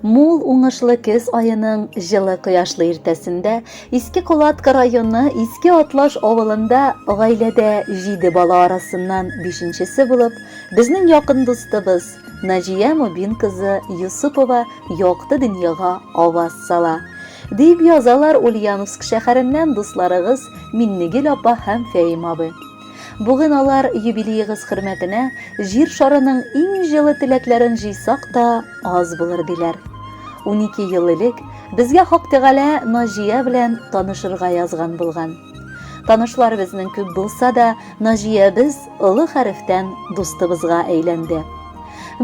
Мул уңышлы көз айының җылы кояшлы иртәсендә Иске Кулатка районы Иске Атлаш авылында гаиләдә җиде бала арасыннан бишенчесе булып, безнең якын дустыбыз Наҗия Мубин кызы Юсупова якты дөньяга аваз сала, дип язалар Ульяновск шәһәреннән дусларыгыз Миннегөл апа һәм Фәим абый. Бүген алар юбилеегыз хөрмәтенә җир шарының иң җылы теләкләрен җыйсак та аз булыр, диләр. Унике ел элек безгә Хак Тәгалә Наҗия белән танышырга язган булган. Танышлар безнең күп булса да, Наҗиябез олы хәрефтән дустыбызга әйләнде.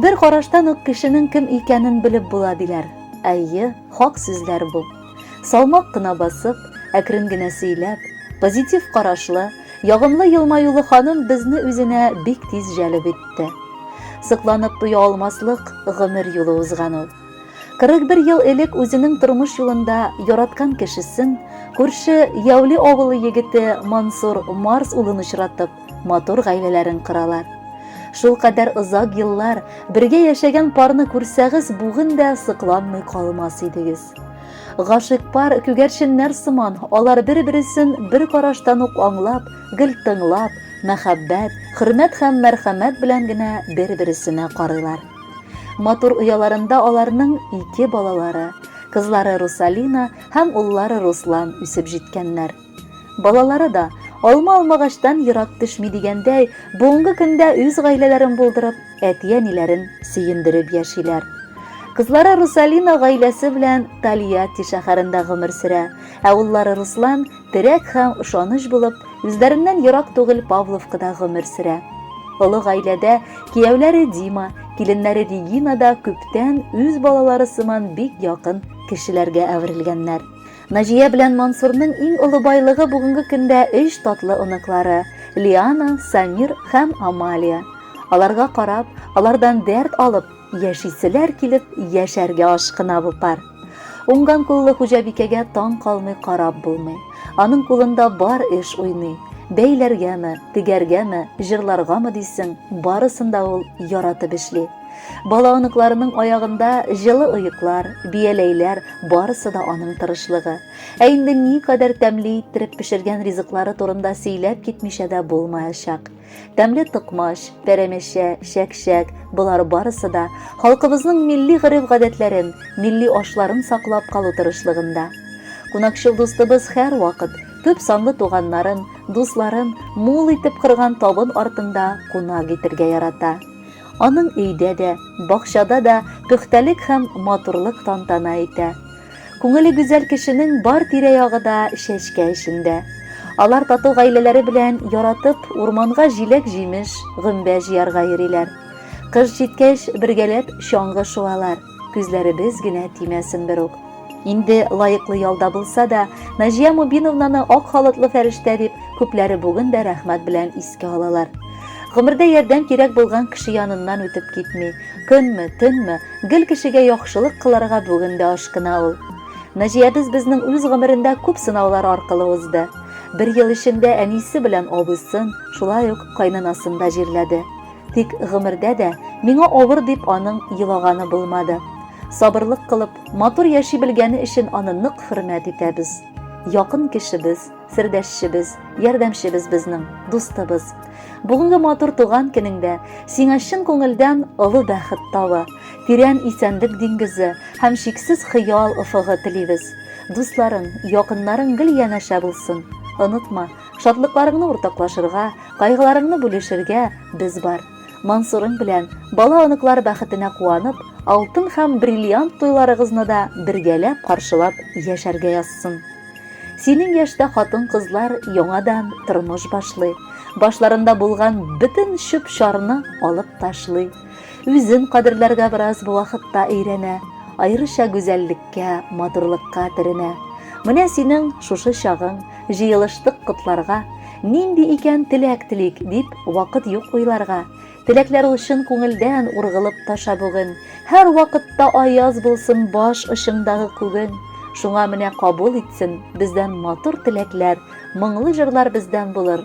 Бер караштан ук кешенең кем икәнен белеп була, диләр. Әйе, хак сүзләр бу. Салмак кына басып, әкрен генә сөйләп, позитив карашлы, ягымлы елмаюлы ханым безне үзенә бик тиз җәлеп итте. Сокланып туя алмаслык гомер юлы узган ул. 41 ел элек үзенең тормыш юлында яраткан кешесен, күрше Яули авылы егете Мансур Марс улын очратып, матур гаиләләрен коралар. Шул кадәр озак еллар бергә яшәгән парны күрсәгез, бүген дә сокланмый калмас идегез. Гашык пар күгәрченнәр сыман, алар бер-бересен бер караштан ук аңлап, гел тыңлап, мәхәббәт, хөрмәт һәм мәрхәмәт белән генә бер-бересенә карыйлар. Матур ояларында аларның ике балалары, кызлары Русалина һәм уллары Руслан үсеп җиткәннәр. Балалары да, алма алмагачтан ерак төшми дигәндәй, бүгенге көндә үз гаиләләрен булдырып, әти-әниләрен сөендереп яшиләр. Кызлары Русалина гаиләсе белән Тольятти шәһәрендә гомер сөрә, ә уллары Руслан терәк һәм ышаныч булып, үзләреннән ерак түгел Павловкада гомер сөрә. Олы гаиләдә кияүләре Дима, киленнәре Регина да күптән үз балалары сыман бик якын кешеләргә әверелгәннәр. Наҗия белән Мансурның иң олы байлыгы бүгенге көндә өч татлы оныклары, Лиана, Самир һәм Амалия. Аларга карап, алардан дәрт алып, яшиселәр килеп, яшәргә ашкына бу пар. Уңган куллы хуҗабикәгә таң калмый карап булмый. Аның кулында бар эш уйный. Бәйләргәме, тегәргәме, җырларгамы дисең, барысын да ул яратып эшли. Бала-оныкларының аягында җылы оеклар, бияләйләр, барысы да аның тырышлыгы. Ә инде ни кадәр тәмле иттереп пешергән ризыклары турында сөйләп китмичә дә булмаячак. Тәмле токмач, пәрәмәчә, чәкчәк, болар барысы да халкыбызның милли гореф-гадәтләрен, милли ашларын саклап калу тырышлыгында. Кунакчыл дустыбыз һәр вакыт күп санлы туганнарын, дусларын мул итеп кырган табын артында кунак итергә ярата. Аның өйдә дә, бакчада да пөхтәлек һәм матурлык тантана итә. Күңеле гүзәл кешенең бар тирә-ягы да чәчкә эчендә. Алар тату гаиләләре белән яратып урманга җиләк-җимеш, гөмбә җыярга йөриләр. Кыш җиткәч, бергәләп чаңгы шуалар. Күзләребез генә тимәсен бер үк. Инде лаеклы ялда булса да, Наҗия Мубиновнаны ак халатлы фәрештә дип күпләре бүген дә рәхмәт белән искә алалар. Гомердә ярдәм кирәк булган кеше яныннан үтеп китми. Көнме, төнме, гел кешегә яхшылык кылырга бүген дә ашкына ул. Наҗиябез безнең үз гомерендә күп сынаулар аркылы узды. Бер ел эчендә әнисе белән абысын, шулай ук кайнынасын да җирләде. Тик гомердә дә миңа авыр дип аның елаганы булмады. Сабырлык кылып, матур яши белгәне өчен аны нык хөрмәт итәбез. Якын кешебез, сердәшчебез, ярдәмчебез безнең, дустыбыз. Бүгенге матур туган көнеңдә сиңа чын күңелдән олы бәхет тавы, тирән исәнлек диңгезе һәм чиксез хыял офыгы телибез. Дусларың, якыннарың гел янәшә булсын. Онытма, Шатлыкларыңны уртаклашырга, кайгыларыңны бүлешергә без бар. Мансурың белән бала-оныклар бәхетенә куанып, алтын һәм бриллиант туйларыгызны да бергәләп каршылап яшәргә язсын. Синең яшьтә хатын-кызлар яңадан тормыш башлый, башларында булган бөтен чүп-чарны алып ташлый. Үзен кадерләргә бераз бу вакытта өйрәнә, аеруча гүзәллеккә, матурлыкка төренә. Менә синең шушы чагың, җыелыштык котларга, нинди икән теләк телик, дип вакыт юк уйларга. Теләкләр ул чын күңелдән ургылып таша бүген. Һәр вакытта аяз булсын баш очыңдагы күген. Шуңа менә кабул итсен бездән матур теләкләр, моңлы җырлар бездән булыр,